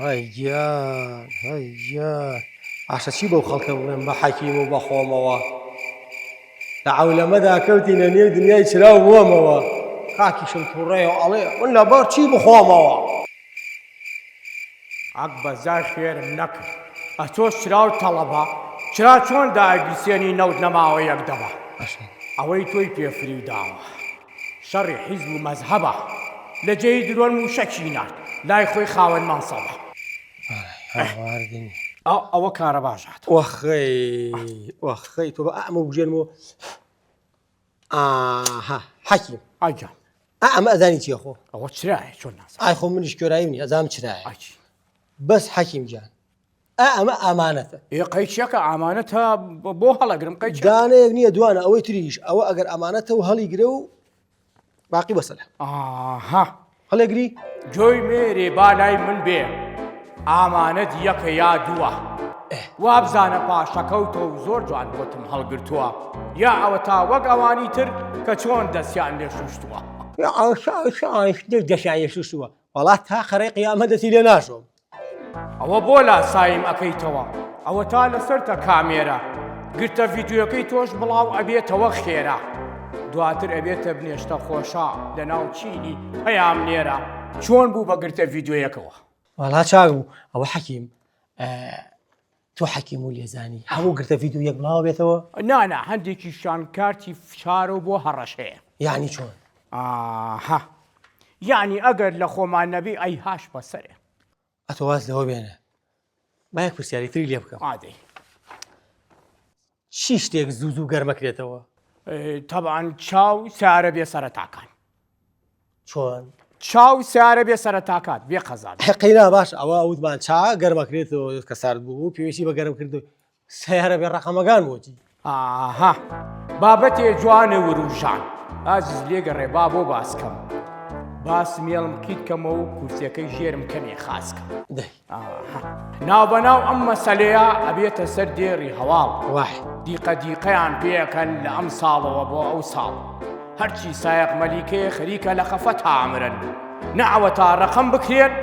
هەی گیان هەی گیان ئاشە چی بەو خەڵکە بڵێم بە حەکیم و بەخۆمەوە لە عولەمەدا کەوتینە نێو دنیای چراو بووەمەوە کاکیشم تووڕێ و ئەڵێ من لە بەر چی بخۆمەوە عەک بەزای خێرم نەکرد ئەتۆ چراو تەڵەبە چرا چۆن داگیرسێنی نەوت نەماوە یەک دەبە ئەوەی تۆی پێفری داوە شەڕی حیزب و مەزهەبە. لە جێی درۆن مووشەکی نارد لای خۆی خاوەن مەنسەبە. ئەوە کارە باژات. ئۆخەی ئۆخەی تۆ بە ئەمە بژێنم و ئاها حەکیم ئاجان ئەمە ئەزانی چیە خۆ ئەوە چرایە چۆن ناس ئای خۆ منیش کۆرایی منی ئەزام چرایە بەس حەکیم جان ئا ئەمە ئامانەتە ئێ قەیچەکە ئامانەتە بۆ هەڵەگرم قەیچ دانەیەک نییە دوانە ئەوەی تریش ئەوە ئەگەر ئامانەتە و هەڵی گرە و باقی بەسەر ئاها هەڵێگری جۆی مێرێ بالای من بێ ئامانەت یەکە یا دووە وابزانە پاشەکەوتە و زۆر جوان بۆتم هەڵگرتووە یا ئەوە تا وەک ئەوانی تر کە چۆن دەستیان لێ شوشتووە دەشایە شوشتووە وڵات تا قەرەی قیامە دەسی لێ ناشۆم ئەوە بۆ لاسایم ئەەکەیتەوە ئەوە تا لەسەرتە کامێرە گرتە ڤیددیوەکەی تۆش بڵاو ئەبێتەوە خێرا دواتر ئەبێتە بنێشتە خۆشە لە ناو چینی پەیام نێرە چۆن بوو بەگرتە ڤیددیوەکەەوە وڵا چاو ئەوە حەکیم تۆ حەکیم و لێزانی هەموو گرتە ڤیدیۆ یەک بڵاوە بێتەوە؟ نا نا هەندێکیشیان کارتی فشار و بۆ هەڕەش هەیە. یەعنی چۆن؟ ئاها یەعنی ئەگەر لە خۆمان نەبێ ئەی هاش بەسەرێ. ئەتۆ واز لەوە بێنە با یەک پرسیاری تری لێ بکەم. ئادەی. چی شتێک زوو زوو گەرمەکرێتەوە؟ تەبعەن چاو سارە بێ سەرەتاکان. چۆن؟ چاو سارە بێ سەرەتاکات بێ قەزات. قەینا باش ئەوە وتمان چا گەرمەکرێتەوە کە سارد بوو پێویستی بە گەرم کردو سیارە بێ ڕقەمەکان بۆچی؟ ئاها بابەتێ جوانە وروژان ئازیز لێگەڕێ با بۆ باسکەم. باس مێڵم کیت کەمەوە و کورسەکەی ژێرم کەمێ خاس کە. دەی ناوبەناو ئەم مەسەلەیە ئەبێتە سەر دێڕی هەواڵ وەح دیقە دیقەیان پێەکەن لە ئەم ساڵەوە بۆ ئەو ساڵ هەرچی سایق مەلیکێ خەریکە لە خەفە تامرن نەوە تا ڕەقم بکرێت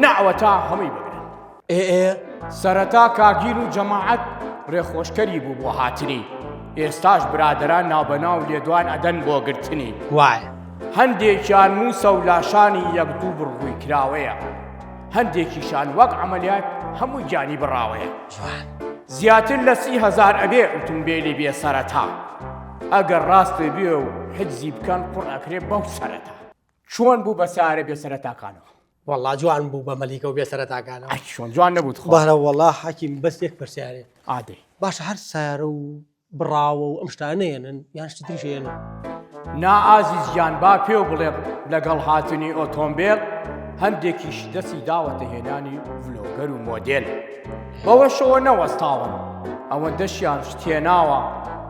نەوە تا هەمووی بگرن ئێ ئێ سەرەتا کاگیر و جەماعەت ڕێخۆشکەری بوو بۆ هاتنی ئێستاش برادران ناوبەناو لێدوان ئەدەن بۆ گرتنی وایە هەندێکیان موسە و لاشانی یەک دوو بڕبووی کراوەیە هەندێکیشان وەک عەمەلیات هەمووی گیانی بڕاوەیە. جوان. زیاتر لە سی هەزار ئەبێ ئوتومبێلی بێ سەرەتا ئەگەر ڕاست بێ و حجزی بکەن قوڕ ئەکرێ بەو سەرەتا. چۆن بوو بە سارە بێ سەرەتاکانەوە. وەڵا جوان بوو بە مەلیکە و بێ سەرەتاکانەوە. ئەی چۆن جوان نەبوو تخوا. بارە وەڵا حەکیم بەس یەک پرسیارێ. ئادەی. باشە هەر سارە و بڕاوە و ئەم شتانە نەیەنن یان شتی تریش یەنن. نا ئازیز گیان با پێو بڵێم لەگەڵ هاتنی ئۆتۆمبێل هەندێکیش دەسی داوەتە هێنانی ڤلۆگەر و مۆدێل بەوەشەوە نەوەستاون ئەوەندەشیان شتێناوە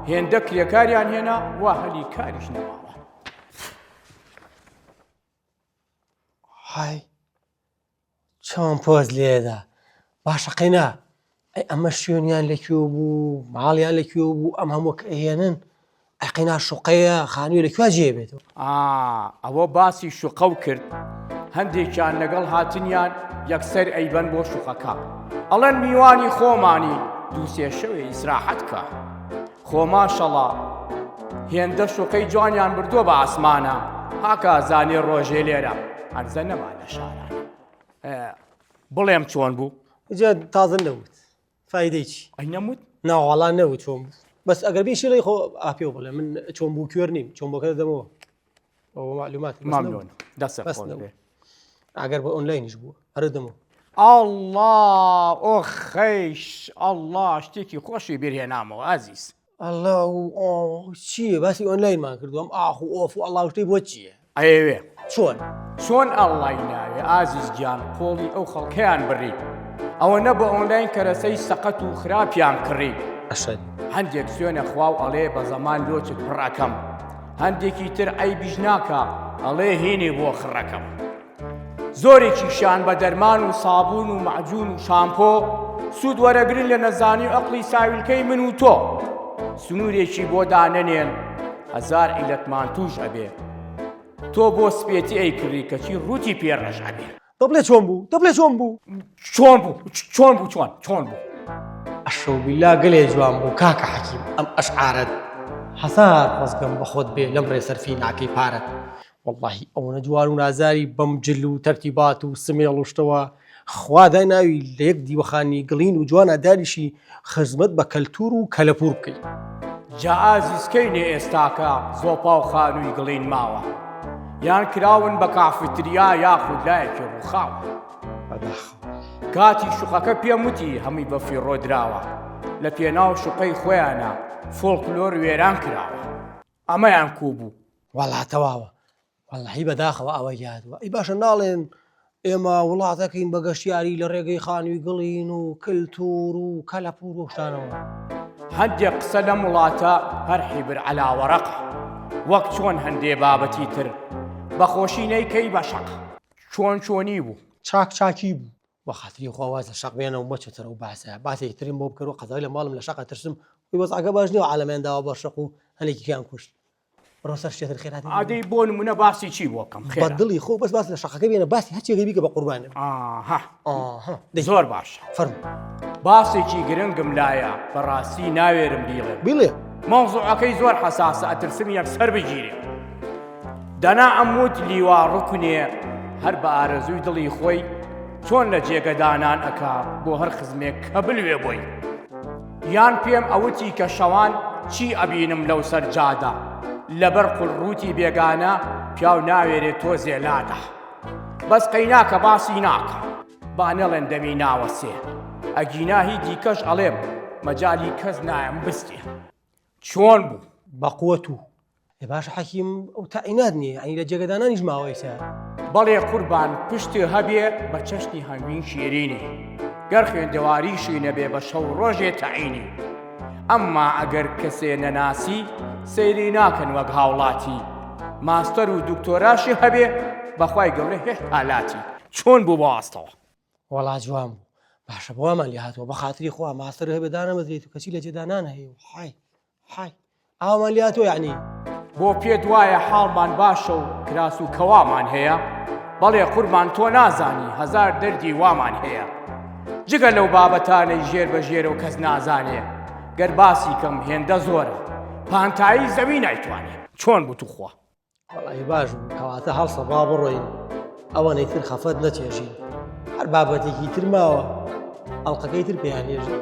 هێندە کرێکاریان هێنا وا هەلی کاریش نەماوە های چۆن پۆز لێدا باشە قەینا ئەی ئەمە شوێنیان لە کوێ بوو ماڵیان لە کوێ بوو ئەم هەموو کە ئەهێنن ئەی قەینا شوقەیە خانووی لە کوێ جێ بێتەوە ئا ئەوە باسی شوقە و کرد هەندێکیان لەگەڵ هاتنیان یەکسەر ئەیبەن بۆ شوقەکە ئەڵێن میوانی خۆمانی دوو سێ شەوێ ئیسراحەت کا. خۆ ماشەڵا هێندە شوقەی جوانیان بردووە بە ئاسمانە هاکە زانێ ڕۆژێ لێرە هەرزە نەما لە شاران بڵێم چۆن بوو جا تازن نەوت فیدەی چی ئەی نەموت ناوەڵا نەوت چۆن بوو بەس ئەگەر بیشی ڵی خۆ ئاپێ بڵێ من چۆن بوو کوێر نیم چۆن بۆکە دەمەوە مامنون دەسە ئەگەر بە ئۆنلاینیش بوو هەرە دەمە ئاڵا ئۆ خەیش ئاڵا شتێکی خۆشی بێهێنامەوە ئازیز ئەله چیە باسی ئۆنلاینمان کردوم ئاخ و ئۆف و ئەڵا شتەی بۆ چییە ئەوێ چۆن چۆن ئەڵی ناوێ ئازیز گیان قۆڵی ئەو خەڵکەیان بڕیت ئەوە نە بە ئۆنلاین کەرەسەی سەقەت و خراپیان کڕیت ئەشد هەندێک سوێنە خواو ئەڵێ بە زەمان لۆچت پڕەکەم هەندێکی تر عەیبیش ناکا ئەڵێ هینێ بۆ خڕەکەم زۆرێکی شان بە دەرمان و سابون و معجون و شامپۆ سوود وەرەگرن لە نەزانی و ئەقلی ساویلکەی من و تۆ سنوورێکی بۆ دانەنێن هەزار عیلەتمان توش ئەبێ تۆ بۆ سپێتی ئەی کڕی کەچی ڕووتی پێڕەش ئەبێ دەبڵێ چۆن بوو دەبڵێ چۆن بوو چۆن بوو چۆن بوو چۆن چۆن بوو ئەشەوبیلا گەلێ جوان بوو کاکە حەکیم ئەم ئەشعارەت حەسار خۆزگەم بە خۆت بێ لەم ڕێسەرفی ناکەی پارەت واللهی ئەوەنە جوان و نازاری بەم جل و تەرتیبات و سمێڵ وشتەوە خوا دای ناوی لە یەک دیوەخانی گڵین و جوانە داریشی خزمەت بە کەلتور و کەلەپور بکەی. جا ئازیز کەینێ ئێستاکە زۆپا و خانووی گڵین ماوە یان کراون بە کافیتریا یاخود لایەکی ڕووخاوە کاتی شوقەکە پێم وتی هەمووی بە فیڕۆدراوە لە پێناو شوقەی خۆیانە فۆڵکلۆر وێران کراوە ئەمەیان کوو بوو وەڵاتەواوە وەڵاهی بەداخەوە ئەوە یادوە ئی باشە ناڵێن ئێمە وڵاتەکەین بە گەشتیاری لە ڕێگەی خانووی گڵین و کللتور و کەلەپور وشتانەوە هەندێک قسە لەم وڵاتە هەر حیبر علاوەڕق وەک چۆن هەندێ بابەتی تر بەخۆشی نەیکەی بە شەق چۆن چۆنی بوو چاک چاکی بوو بە خاتری خواواز لە شەق بێنە و مەچەتەرە و باسە باسی ترین بۆ بکەەوە قەزای لە ماڵم لە شەقە ترسم وی وەزعگە باش نیە عالەمێنداوە بە شەق و هەنێکیان کوشت بڕۆ سەر شتێتر خێرات ئادەی بۆ نمونە باسی چی بۆ کەم خێ دڵی خۆ بەس باس لە شەقەکە بێنە باسی هەرچێکی بیکە بە قوربانە زۆر باش فەر باسێکی گرنگم لایە بەڕاستی ناوێرم بیڵێ بڵێ مەوزوعەکەی زۆر حساسە ئەترسم یەک سەر بگیرێ دەنا ئەموت لیوا ڕکنێ هەر بە ئارەزووی دڵی خۆی چۆن لە جێگەدانان ئەک بۆ هەر خزمێک کە بلوێ بۆی. یان پێم ئەوتی کە شەوان چی ئەبینم لەو سەر جادە لەبەر قول ڕووتی بێگانە پیاو ناوێرێ تۆزێ لادە بەس قەیناکە باسی ناکە با نەڵێن دەمی ناوەسێ ئەگینا هی دیکەش ئەڵێم مەجای کەس نایم بستێ چۆن بوو بەقوەت و ئێ باشە حەکیم ئەو تاعینات نییە یعنی لە جێگەدانانیش ماوەیسە بەڵێ قوربان پشتێ هەبێ بە چەشنی هەنگوین شیرینی گەر خوێندەواریشی نەبێ بە شەو ڕۆژێ تەعینی ئەمما ئەگەر کەسێ نەناسی سەیری ناکەن وەک هاوڵاتی ماستەر و دکتۆراشی هەبێ بەخوای گەورە هێشت هالاتی چۆن بوو بۆ ئاستەوە وەڵا جوان بوو باشە بۆمان لێ هاتەوە بە خاتری خوا ماستەر هەبێ دانەمەزرێت و کەسی لە جێدانان هەیە و حای حای ئاوان لیا تۆ یعنی بۆ پێت وایە حاڵمان باشە و کراس و کەوامان هەیە بەڵێ قوربان تۆ نازانی هەزار دەردی وامان هەیە جگە لەو بابەتانەی ژێر بە ژێرە و کەس نازانێ گەر باسی کەم هێندە زۆرە پانتایی زەوی نایتوانێت چۆن بتوخوا وەڵی باش کەواتە هەڵسە با بڕۆین ئەوەنەی تر خەفەت نەچێژین هەر بابەتێکی تر ماوە ئەڵلقەکەی تر پێیان نێژین.